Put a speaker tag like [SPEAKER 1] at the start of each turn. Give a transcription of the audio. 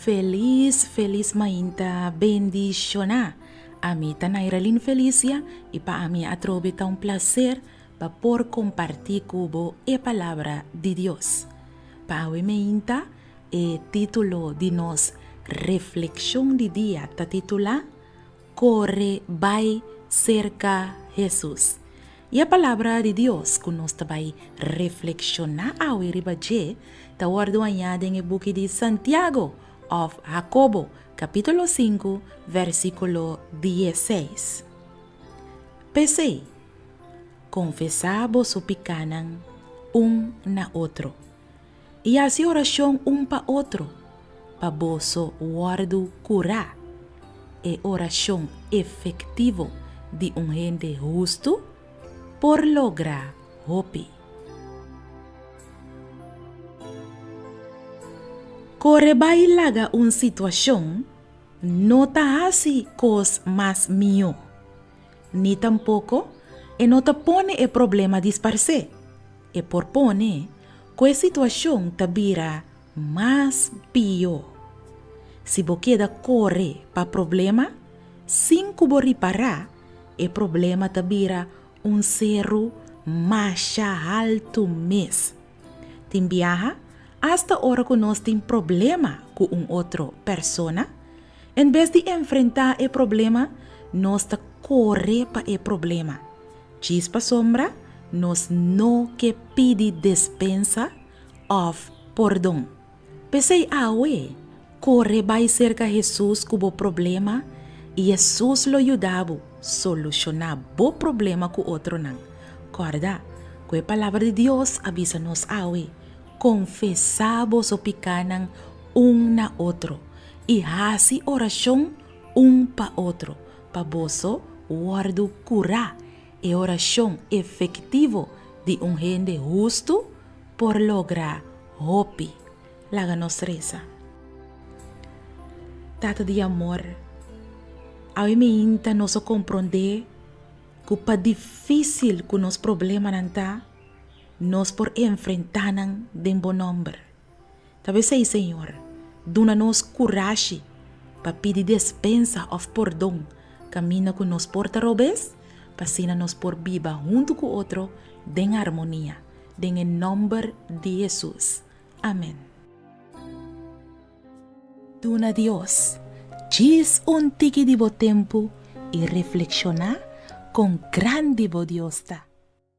[SPEAKER 1] Felis felis mainta bendishoná. Ami ta Nairalin Felicia i pa ami atrobe ta un plaser pa por kompartí ku bo e palabra di Dios. Pa awe meinta e título di nos reflekshon di dia ta titulá, Kore bai serka Hesus. I e Palabra di Dios ku nos ta bai reflekshoná awe riba dje ta wòrdu hañá den e buki di Santiago òf Hakobo, kapítulo sinku, vèrsikulo dieseis. P'esei, konfesá boso pikánan un na otro. i hasi orashon un pa otro pa boso wòrdu kurá. E orashon efektivo di un hende hustu por logra hopi. Kore bai laga un situashon no ta hasi kos mas mihó. ni tampoko e no ta pone e problema disparsé. E por pone ku e situashon ta bira mas pió. Si bo keda kore pa problema sin ku bo ripará, e problema ta bira un seru masha haltu mes. Tin biaha, asta ora ku nos tin problema ku un otro persona, En bes di enfrentá e problema, nos ta kore pa e problema. Djis pasobra nos no ke pidi despensa òf pordon. P'esei awe, kore bai serka Hesus ku bo problema i Hesus lo yuda bo solushoná bo problema ku otronan. Kòrda ku e Palabra di Dios a bisa nos awe, Konfesá boso pikánan un na otro i hasi orashon un pa otro pa boso wòrdu kurá. E orashon efektivo di un hende hustu por logra hopi. Laga nos resa. Tata di amor, awiminta nos a komprondé ku pa difísil ku nos problemanan ta, Nos por enfrentá nan den bo nòmber. Tal bes ei, Señor, duna nos kurashi pa pidi despensa òf pordon kaminda ku nos por ta robes, pa asina nos por biba huntu ku otro den harmonia. Den e nòmber di Hesus. Amèn. Duna Dios djis un tiki di bo tempu i reflekshoná kon grandi bo Dios ta.